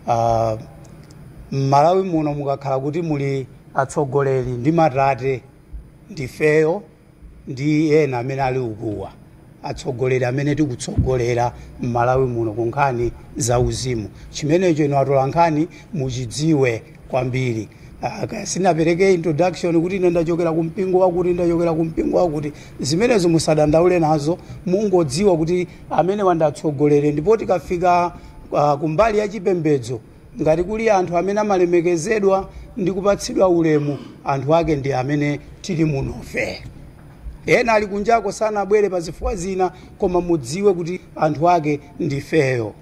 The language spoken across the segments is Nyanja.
Ah, m'Malawi muno mukakhala kuti muli atsogoleri ndi matate ndifeyo ndi ena amene ali ukuwo atsogoleri amene tikutsogolera m'Malawi muno ku nkhani za uzimu chimenecho inu atola nkhani muchidziwe kwambiri Ah, kaya sindinapereke introduction kuti ine ndachokera ku mpingo wakuti ndachokera ku mpingo wakuti zimenezo musadandaule nazo mungodziwa kuti amene awa ndi atsogoleri ndipo tikafika ah, kumbali ya chipembedzo ngati kuli anthu amene amalemekezedwa ndi kupatsidwa ulemu anthu ake ndi amene tili munofe ena ali kunjako sanabwere pa zifukwa zina koma mudziwe kuti anthu ake ndifeyo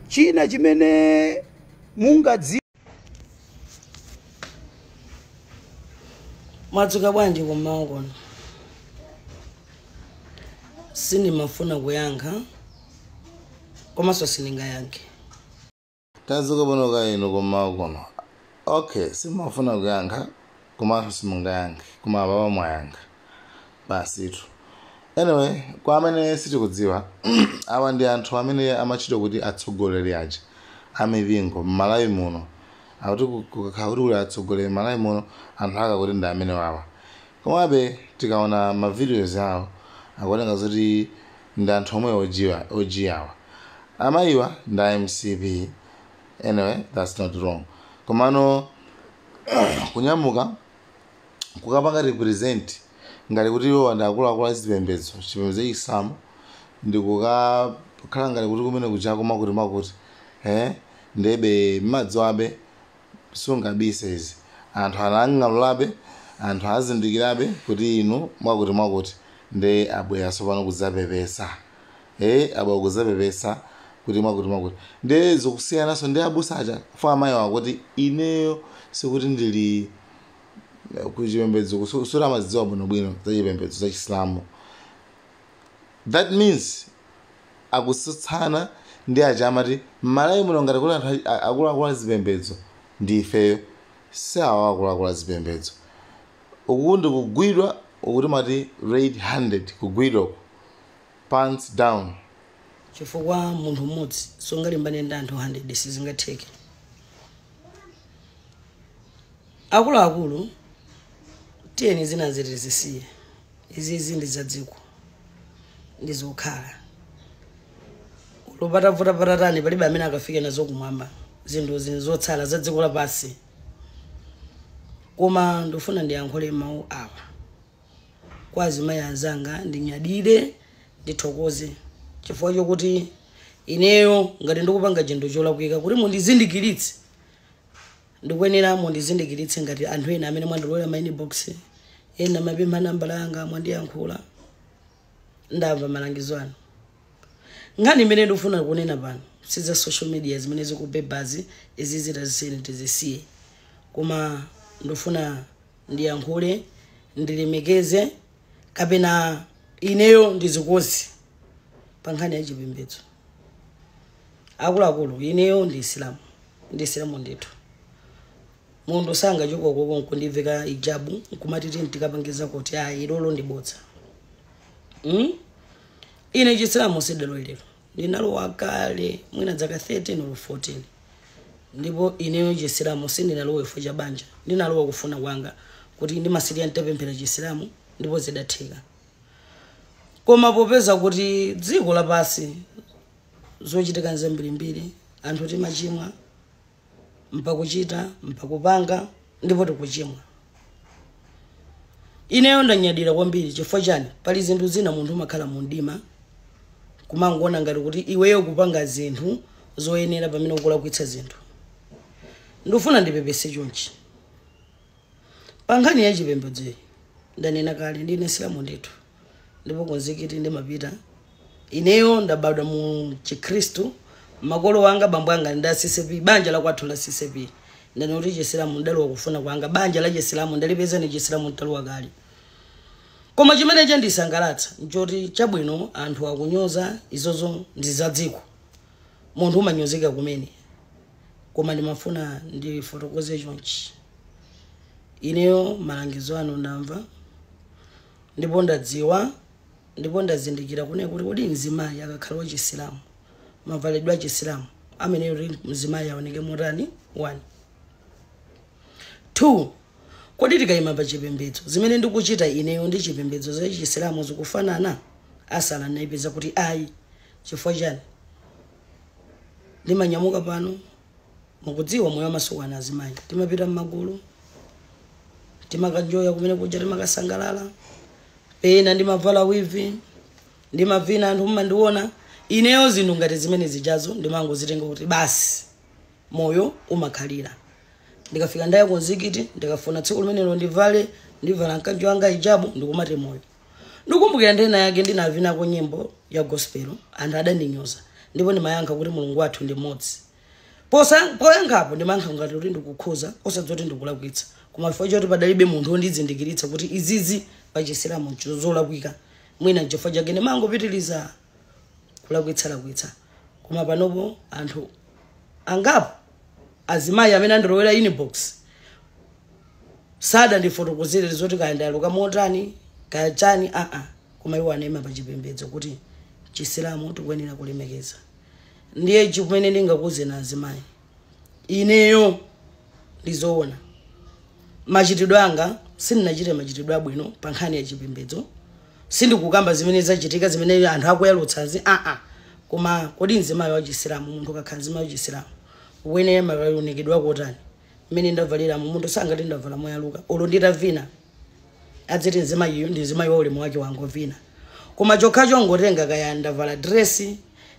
china chimene mungadziwe. Mwadzuka bwanji kummawa kuno? Sindimafuna kuyankha komanso sindinayankhe. Tadzuka bwino kaya inu kummawa kuno. Okay, simumafuna kuyankha komanso simungayankhe koma apapa mwayankha. basitu anyway kwa amene sitikudziwa awa ndi anthu amene amatchedwa kuti atsogoleri aja amipingo mMalawi muno akuti ku- kukakhala kuti kuli atsogoleri mMalawi muno anthu ake akuti ndi amenewawa komabe tikaona mavideos awo akuoneka zoti ndi anthu omwe ojiyawa amayiwa ndi a MCP anyway that's not wrong komano kunyamuka kukapanga represent ngati kuti iwowa ndi akuluakulu azipembedzo chipembedzo chachisilamu ndikukakhala ngati kuti kumene kujako mwakuti mwakuti eh ndebe mmadziwabe sungabise izi anthu akung'alulabe anthu azindikirabe kuti inu mwakuti mwakuti nde abwera tsopano kudzapepesa eh abwera kudzapepesa kuti mwakuti mwakuti nde zikusiyanaso ndi abusa aja for amayiwa kuti ineyo sikuti ndili kuchipembedzo kuti amazidziwa bwinobwino za chipembedzo za chisilamu that means akutsutsana ndi aja amati mMalawi muno ngati kuli anthu a- akuluakulu azipembedzo ndi ifeyo si awo akuluakulu azipembedzo uku ndi kugwidwa uku timati red handed kugwidwa pants down chifukwa munthu mmodzi sungalimbane ndi anthu 100 sizingatheke akuluakulu tiyeni zina tizizisiye izizi ndi za dziko ndi zokhala olo patavuta patatani palibe amene akafike nazo kumwamba zinthuzi ndi zotsala za dziko lapansi koma ndifuna ndiyankhule mawu awa Kwa azimayi anzanga ndinyadire, ndithokoze chifukwa chokuti ineyo ngati ndikupanga chinthu cholakwika kuti mundizindikilitse ndikuyenera mundizindikilitse ngati anthu ena amene mwandilowera ma inbox ena mwapempha nambala yanga mwandiyankhula ndamva malangizo anu nkhani imene ndikufuna kunena pano si za social media zimene zikuphebazi izizi tazisiyeni tizisiye koma ndifuna ndiyankhule, ndilemekeze kapena ineyo ndizikonze pa nkhani ya chipembedzo akuluakulu ineyo ndi msilamu ndi msilamu ndithu munthu sangachoka kokoko nkundiveka ijabu nkumati ntini ntikapangitsa kuti ayi ilolo ndi bodza mm? ine chisilamu sindalowe lero Ndinalowa kale mwina dzaka 13 olo 14 ndipo ineyo chisilamu sindinalowe chifukwa cha banja ndinalowa kufuna kwanga kuti ndimasirira ntapemphera chisilamu ndipo zidatheka koma popeza kuti dziko lapansi zochitika nzambirimbiri anthu timachimwa mpakuchita mpakupanga ndipo tikuchimwa ineyo ndanyadira kwambiri chifukwa chani pali zinthu zina munthu umakhala mu mdima kumangoona ngati kuti iweyo ukupanga zinthu zoyenera pamene ukulakwitsa zinthu ndifuna ndipepese chonchi Pa nkhani ya chipembedzoyi ndanena kale ndine msilamu ndithu ndipo kunzikiti ndimapita. Ineyo ndabadwa mu chikhristu makolo anga bambo anga ndi a ccp banja la kwathu la ccp ndanena kuti chisilamu ndalowa kufuna kwanga banja la chisilamu ndalipeza ine chisilamu ntalowa kale. Koma chimene chandisangalatsa nchoti chabwino anthu akunyoza izozo ndi za dziko munthu umanyozeka kumene. koma ndimafuna ndifotokoze chonchi. Ineyo malangizo anu ndamva ndipo ndadziwa ndipo ndazindikira kunena kuti kodi mzimayi akakhala wa Chisilamu, mavalidwe a Chisilamu amayenera kuti mzimayi aoneke motani 1. 2, Kodi tikaima pa chipembedzo, zimene ndikuchita ineyo ndi chipembedzo cha Chisilamu zikufanana? Asala, Ndaipeza kuti ayi. Chifukwa chani? ndimanyamuka pano mukudziwa moyo wamasukwana azimayi timapita mmagulu timakanjoya kumene kuja timakasangalala pena ndimavala wivi ndimavina anthu mumandiona ineyo zinthu ngati zimene zijazo ndimangozitenga kuti basi moyo mmakhalira ndikafuna ndaya kunzikiti ndikafuna tsiku limenelo ndivale ndivala mkanjo wanga ijabu nkumati moyo ndikumbukira nthawi ina yake ndinavinako nyimbo ya gospel anthu adandinyoza ndipo ndimayankha kuti mulungu wathu ndi mmodzi Posa- poyankhapo ndimayankha ngati kuti ndikukhoza osati zoti ndikulakwitsa koma chifukwa choti padalibe munthu wondidzindikiritsa kuti izizi pachisilamu nzolakwika mwina nchifukwa chake ndimangopitiriza kulakwitsalakwitsa koma panopo anthu angapo azimayi amene andilowera inbox sadandifotokozere zoti kaya ndayaluka motani kaya chani aa koma iwo anayima pa chipembedzo kuti chisilamu tikuyenera kulemekeza ndiye chimene ndingakuuzeni azimayi ineyo ndizoona machitidwe anga sindinachite machitidwe abwino pa nkhani ya chipembedzo sindikukamba zimene zachitika zimene anthu akuyalutsazi aa koma kodi mzimayi wa chisilamu munthu ukakhala mzimayi wa chisilamu ukuyenera kumaoneka kotani mmene ndavaliramu munthu sangati ndavala moyaluka olo nditavina adziti mzimayiyu ndi mzimayi wa ulemu wake wangovina koma chokhacho nkungotenga kaya ndavala dress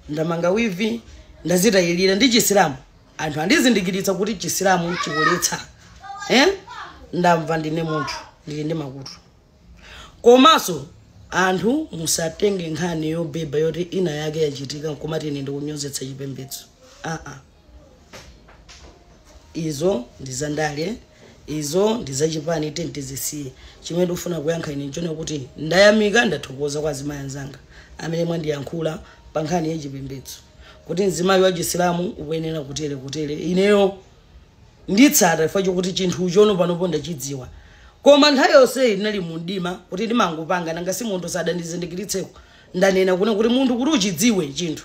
ndamanga wivi ndazitayilira ndi chisilamu anthu andizindikiritsa kuti chisilamu chikuletsa eh? ndamva ndine munthu ndili ndi makutu komanso anthu musatenge nkhani yobeba yoti ina yake yachitika nkumati ine ndikunyozetsa chipembedzo aa izo ndi zandale izo ndi zachipani tiyeni tizisiye chimene ndikufuna kuyankha ine nchonena kuti ndayamika ndathokoza kwa azimayi anzanga amene mwandiyankhula pa nkhani ya chipembedzo kuti mzimayi wa chisilamu ukuyenera kutere kutere ineyo nditsatira chifukwa chokuti chinthucho panopo ndachidziwa koma nthawi yonseyi ndinali mu mdima kuti ndimangopanga nanga si munthu sadandizindikiritseko ndanena kuna kuti munthu kuti uchidziwe chinthu